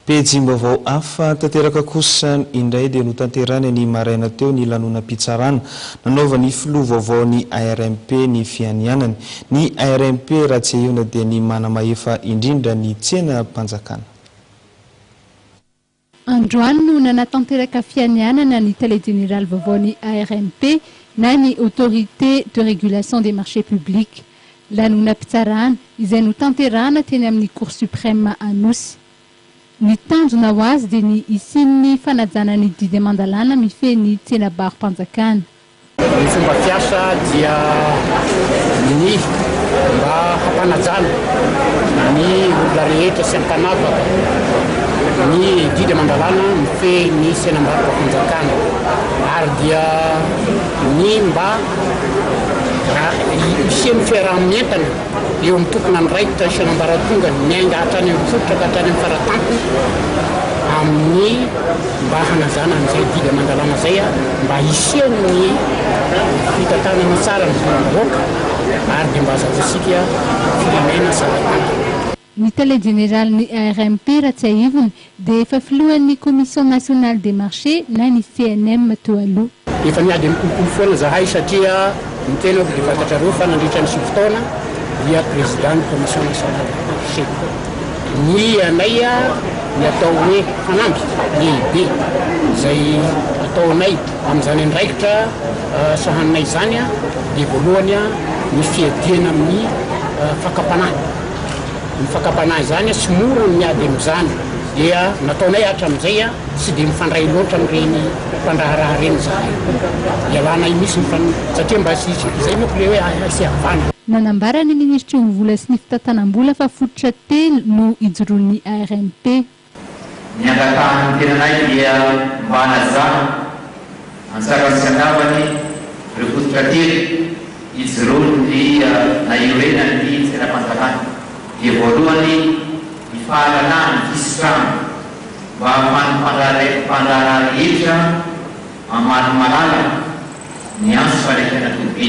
Pejim-baovao hafa tanteraka kosa indray dia notanterahina ny maraina teo ny lanonam-pitsarana nanaovan'ny filoha vaovaon'ny ARMP ny fianianany. Ny ARMP raha tsiahivina dia ny manamahefa indrindra ny tsenam-panjakana. Androany no nanatanteraka fianianana ny tale jeneraly vaovaon'ny ARMP na ny Autorité de régulation des marchés publics. Lanonam-pitsarana izay notanterahana teny amin'ny Cour Supreme Anosy. Ny tanjona ho azy dia ny hisian'ny fanajana ny didy aman-dalàna mifehy ny tsenabaro-panjakana. Ny fomba fiasa dia ny mba hampanajana ny olona rehetra sy hampanavaka ny didy aman-dalàna mifehy ny tsenambaro-panjakana ary dia ny mba Raha hisian'ny fiaraha-mientana eo amin'ny tomponandraikitra sy an'ambaratongany miainga hatrany amin'ny fototra ka hatrany amin'ny faratampony amin'ny mba hanazana an'izay didy aman-dalàna izay, mba hisian'ny fitantanana tsara ny volam-bahoaka ary dia mba hazahoantsika firenena salantsalany. Ny tale jeneralin'ny ARMP, Ratsiahivony, dia efa filohan'ny Commission Nationale des Marchés na ny CNM teo aloha. Efa niady amin'ny kolikoly foana zahay satria ny tenako dia fantatrareo fa nandritra ny sivy taona dia président ny Commission Nationale des Marchés. Ny anay ny atao hoe fanamby lehibe izay ataonay amin'izany andraikitra sahaninay izany dia voalohany ny fiadiana amin'ny fakam-panahy. ny fakam-panahy izany sy mora ny miady amin'izany dia nataonay hatramin'izay tsy dia mifandray loatra amin'ireny mpandraharaha ireny izahay. Ialanay mihitsy ny fan satria mba tsy hisy izay manko ilay hoe hay sy havanana. Nanambara ny minisitry ny Vola sy ny Fitantanam-bola fa fototra telo no ijoroan'ny ARMP. Ny angatahan'ny tenanay dia mba hanajanona an-tsarany sy an-davany ireo fototra telo ijoroan'ny na iorenan'ny tsenam-panjakana. Dia voalohany ny fahalalahana ny fisitrahana mba ahafahan'ny mpandraharaha rehetra mamaly malalaka ny antso fanakiana toby.